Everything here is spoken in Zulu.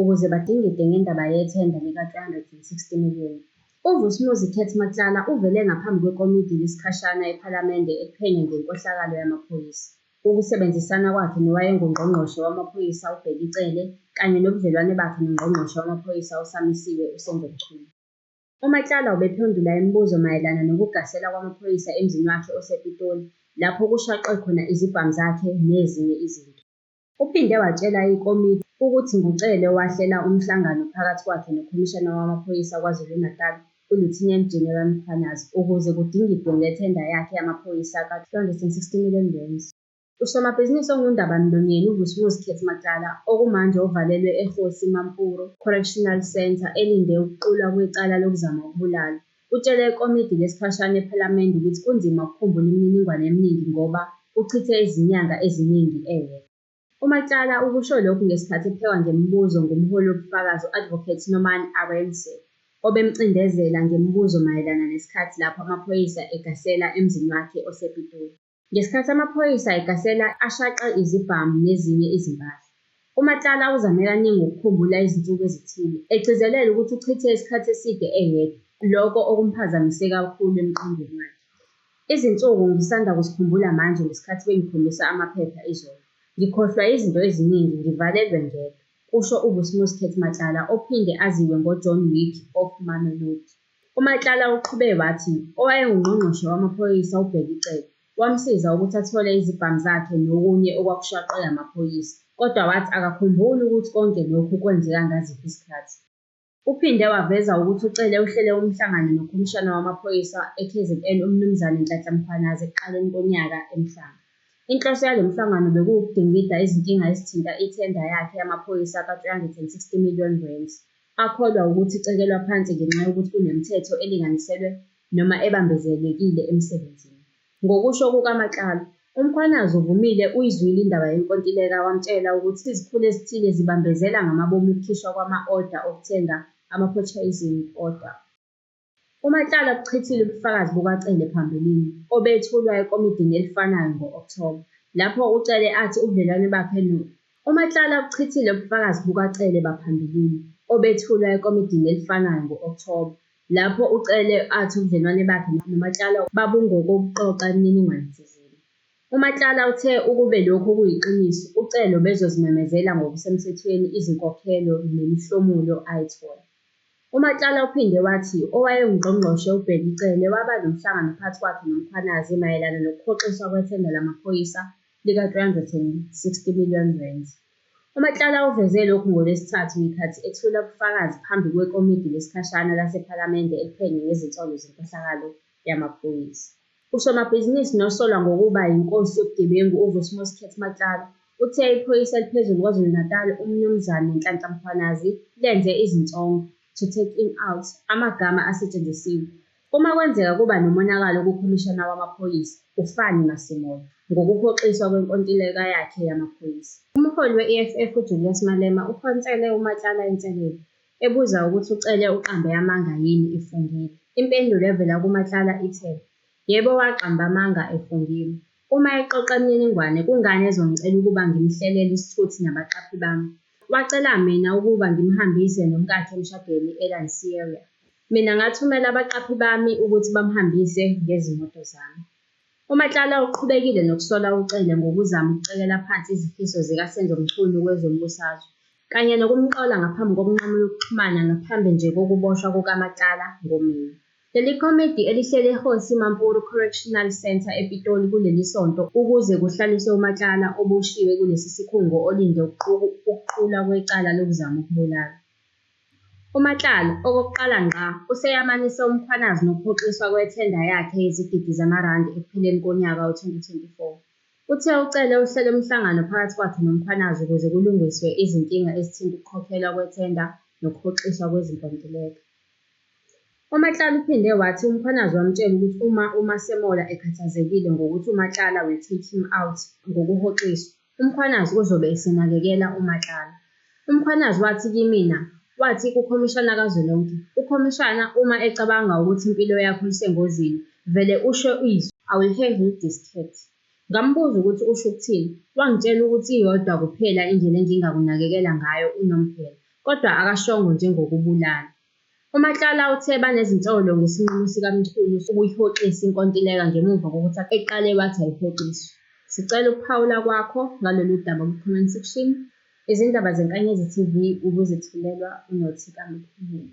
ukuze badingide ngendaba yethenda lika-360 million. UVusmuzi Keth Matlala uvele ngaphambi kwekomidi lesikhashana ePhalamende eliphenya ngenkohlakalo yamaphoyisa, ukusebenzisana kwakhe nowayenguNgqongqoshe wamaPhoyisa uBheki Cele kanye nobudlelwane bakhe noNgqongqoshe wamaPhoyisa osamisiwe uSenzo Mchunu. UMatlala ubephendula imibuzo mayelana nokugasela kwamaphoyisa emzini wakhe osePitoli lapho kushaqwe khona izibhamu zakhe nezinye izinto. Uphinde watshela ikomiti ukuthi nguCele owahlela umhlangano phakathi kwakhe noKhomishana wamaPhoyisa KwaZulu-Natal, uLieutenant General Mkhwanazi, ukuze kudingidwe ngethenda yakhe yamaphoyisa ka-R260 million. Usomabhizinisi ongundabamlonyeni uVusimuzi Khethimacala, okumanje uvalelwe eKgosi Mampuru Correctional Centre elinde ukuqulwa kwecala lokuzama ukubulala, Utshele ikomidi lesikhashana ePhalamende ukuthi kunzima ukukhumbula imininingwane eminingi ngoba uchithe izinyanga eziningi eyedwa. UMatlala ukusho lokhu ngesikhathi ephekwa ngemibuzo ngumholi wobufakazi u-Advocate Norman Arendse, obemcindezela ngemibuzo mayelana nesikhathi lapho amaphoyisa egasela emzini wakhe osePitoli. Ngesikhathi amaphoyisa egahlela ashaqe izibhamu nezinye izimpahla, uMatlala uzame kaningi ukukhumbula izinsuku ezithile, egcizelela ukuthi uchithe isikhathi eside eyedwa, loko okumphazamise kakhulu emqondweni wakhe. Izinsuku ngisanda kuzikhumbula manje ngesikhathi bengikhombisa amaphepha izolo. Ngikhohlwa yizinto eziningi, ngivalelwe ngedwa, kusho uBusmusket Matlala ophinde aziwe ngoJohn Wick of Mamelodi. UMatlala uqhube wathi owayenguNgqongqoshe wamaPhoyisa uBheki Cele wamsiza ukuthi athole izibhamu zakhe nokunye okwakushaqwe amaphoyisa kodwa wathi akakhumbuli ukuthi konke lokhu kwenzeka ngaziphi izikhathi. Uphinde waveza ukuthi uCele uhlele umhlangano noKhomishana wamaPhoyisa eKZN uMnumzane Nhlanhla Mkhwanazi ekuqaleni konyaka eMhlanga. Inhloso yalo mhlangano bekuwukudingida izinkinga ezithinta ithenda yakhe yamaphoyisa ka-360 million rands Akholwa wukuthi icekelwa phansi ngenxa yokuthi kunemithetho elinganiselwe noma ebambezelekile emsebenzini. Ngokusho kukaMatlala, uMkhwanazi uvumile uyizwile indaba yenkontileka wamtshela ukuthi izikhulu ezithile zibambezela ngamabomu ukukhishwa kwama-oda okuthenga ama-purchasing order. UMatlala ubuchithile ubufakazi bukaCele phambilini, obethulwa ekomidini elifanayo ngo-Okthoba, lapho uCele athi ubudlelwane bakhe no. UMatlala ubuchithile ubufakazi bukaCele baphambilini, obethulwa ekomidini elifanayo ngo-Okthoba, lapho uCele athi ubudlelwane bakhe noMatlala babungokokuqoqa imininingwane thizeni. UMatlala uthe ukube lokhu kuyiqiniso, uCele ubezozimemezela ngokusemthethweni izinkokhelo nemihlomulo ayithola. UMatlala uphinde wathi owayenguNgqongqoshe uBheki Cele waba nomhlangano phakathi kwakhe noMkhwanazi mayelana nokuhoxiswa kwethenda lamaphoyisa lika-R360 million. UMatlala uveze lokhu ngoLwesithathu ngekhathi ethula ubufakazi phambi kwekomidi lesikhashana lasePhalamende eliphenye ngezinsolo zenkohlakalo yamaphoyisa. Usomabhizinisi nosolwa ngokuba yinkosi yobugebengu uVusmus Cat Matlala uthe iphoyisa eliphezulu KwaZulu-Natal uMnumzane Nhlanhla Mkhwanazi lenze izinsongo, to take him out, amagama asetshenzisiwe. Uma kwenzeka kuba nomonakalo kuKhomishana wamaPhoyisa, uFani Masemola, ngokuhoxiswa kwenkontileka yakhe yamaphoyisa. Umholi we-EFF uJulius Malema uphonsele uMatlala inselelo, ebuza ukuthi uCele uqambe amanga yini efungile. Impendulo evela kuMatlala ithe, Yebo waqamba amanga efungile. Uma exoxa imininingwane kungani ezongicela ukuba ngimhlelele isithuthi nabaqaphi bami? Wacela mina ukuba ngimhambise nomkakhe emshadweni eLanseria. Mina ngathumela abaqaphi bami ukuthi bamhambise ngezimoto zami. UMatlala uqhubekile nokusola uCele ngokuzama ukucekela phansi izifiso zikaSenzo Mchunu kwezombusazwe, kanye nokumqola ngaphambi kokunqamula ukuxhumana ngaphambi nje kokuboshwa kukaMatlala ngoMeyi. Leli komidi elihleli eKgosi Mampuru Correctional Centre ePitoli kuleli sonto ukuze kuhlaliswe uMatlala oboshiwe kulesi sikhungo olinde ukuqulwa kwecala lokuzama ukubulala. UMatlala okokuqala ngqa useyamanise uMkhwanazi nokuhoxiswa kwethenda yakhe yezigidi zamarandi ekupheleni konyaka we-2024. Uthe ucele uhlele umhlangano phakathi kwakhe noMkhwanazi ukuze kulungiswe izinkinga ezithinta ukukhokhelwa kwethenda nokuhoxiswa kwezinkontileka. UMatlala uphinde wathi uMkhwanazi wamtshela ukuthi uma uMasemola ekhathazekile ngokuthi uMatlala will take him out ngokuhoxiswa. UMkhwanazi uzobe esenakekela uMatlala. UMkhwanazi wathi kimina, wathi kuKhomishana kazwelonke, uKhomishana uma ecabanga ukuthi impilo yakho isengozini, vele usho izwi, I will have you discreet. Ngambuza ukuthi usho ukuthini, wangitshela ukuthi iyodwa kuphela indlela engingakunakekela ngayo unomphela, kodwa akashongo njengokubulala. UMatlala uthe banezinsolo ngesinqumo sikaMchunu sokuyihoxisa inkontileka ngemuva kokuthi eqale wathi ayihoxiswe. Sicela ukuphawula kwakho ngalolu daba kwi-comment section, Izindaba zeNkanyezi TV ubuzitholelwa uNothi kaMkhumuli.